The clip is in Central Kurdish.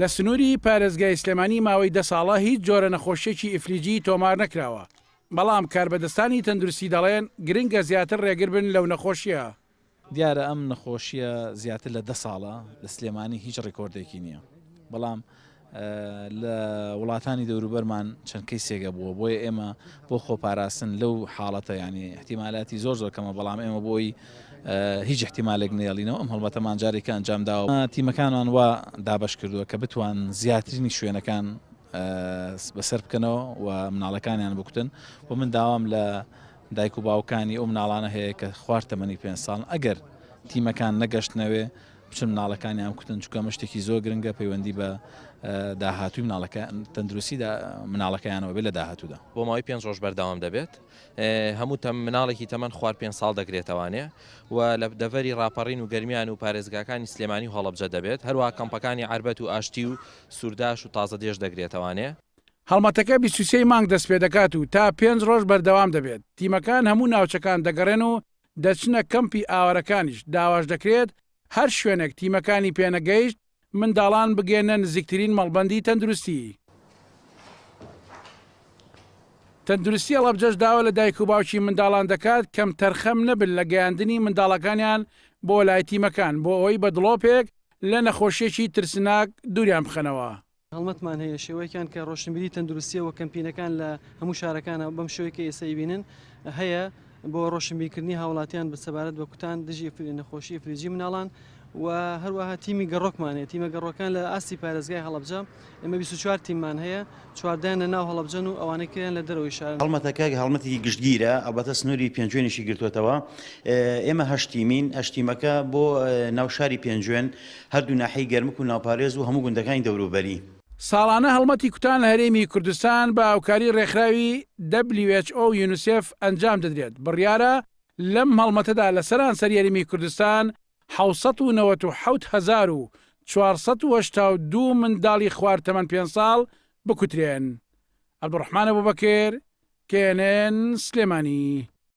لە سنووری پارێزگای سلێمانی ماوەی دە ساڵە هیچ جۆرە نەخۆشیێکی ئیفلیجی تۆمار نەکراوە بەڵام کاربەدەستانی تەندروستی دەڵێن گرنگە زیاتر ڕێگر بن لەو نەخۆشیە دیارە ئەم نەخۆشیە زیاتر لە دە ساڵە لە سلێمانی هیچ ڕێکۆردێکی نییە بەڵام لە وڵاتانی دەوروبەرمان چەند کەیسێک هەبووە، بۆیە ئێمە بۆ خۆپاراستن لەو حاڵەتە یانی ئیحتیمالاتی زۆر زۆر کەمە، بەڵام ئێمە بۆی هیچ ئیحتیمالێک نەیەڵینەوە، ئەم هەڵمەتەمان جارێکە ئەنجام داوە. تیمەکانمان وا دابەش کردووە کە بتوان زیاترینی شوێنەکان بەسەر بکەنەوە و مناڵەکانیان بکوتن و من داوام لە دایک و باوکانی ئەو مناڵانە هەیە کە خوار تەمەنی پێنج ساڵن ئەگەر تیمەکان نەگەشتنەوێ بچن مناڵەکانیان بکوتن چونکە ئەمە شتێکی زۆر گرنگە پەیوەندی بە داهاتووی مناڵەکە تەندروستی مناڵەکەیانەوە بێت لە داهاتوودا بۆ ماوەی پێنج ڕۆژ بەردەوام دەبێت هەموو تەم مناڵێکی تەمەەن خوار پێ ساڵ دەگرێتەوانێ و لە دەڤەری ڕاپەڕین و گەرمیان و پارێزگاکانی سلێمانی و هەڵبجە دەبێت هەروە کەمپەکانی عربەت و ئاشتی و سوورداش و تازە دێش دەگرێتەوانێ هەڵمەتەکە بیست و سێی مانگ دەست پێ دەکات و تا پێنج ڕۆژ بەردەوام دەبێت تیمەکان هەموو ناوچەکان دەگەڕێن و دەچنە کەمپی ئاوارەکانیش، داواش دەکرێت هەر شوێنێک تیمەکانی پێنەگەیشت، منداڵان بگەێننە نزیکترین مەڵبەندی تەندروستی. تەندروستی هەڵەبجەش داوا لە دایک و باوکی منداڵان دەکات کەمتەرخەم نەبن لە گەیاندنی منداڵەکانیان بۆ لای تیمەکان، بۆ ئەوەی بە دڵۆپێک لە نەخۆشییەکی ترسناک دووریان بخەنەوە. هەڵمەتمان هەیە شێوەیەکیان کە ڕۆشنبیری تەندروستیە وە کەمپینەکان لە هەموو شارەکانە بەم شوێ کە ئێستا ئیبینن هەیە بۆ ڕۆشنبیرکردنی هاوڵاتیان بە سەبارەت بە کوتان دژی فری نەخۆشی فریجی مناڵان و هەروەها تیمی گەڕۆکمانێت تیمە گەڕۆکان لە ئاستی پارێزگای هەڵبجە ئمە 24 تیممان هەیە چواردان لە ناو هەڵبجەن و ئەوانەی کریان لە دەرەوەی شار هەڵمەتەکە هەڵمەتێکی گشتگیرە ئەڵبەتە سنووری پێنجوێنیشی گرتوتەوە ئێمە هەشتیمین ئەشتیمەکە بۆ ناو شاری پێنجوێن هەردوو ناحیەی گەرمک و ناوپارێز و هەموو گوندەکانی دەوروبەری. ساڵانە هەڵمەتی کوتان لە هەرێمی کوردستان بە هاوکاری ڕێکخراوی WHO و یونسێف ئەنجام دەدرێت، بڕیارە لەم هەڵمەتەدا لە سەرانسەری هەرێمی کوردستان حەوت سەد و نەوەت و حەوت هەزار و چوار سەد و هەشتا و دوو منداڵی خوار تەمەن پێنج ساڵ بکوترێن. عەبدولڕەحمان ئەبوبەکر، knn، سلێمانی.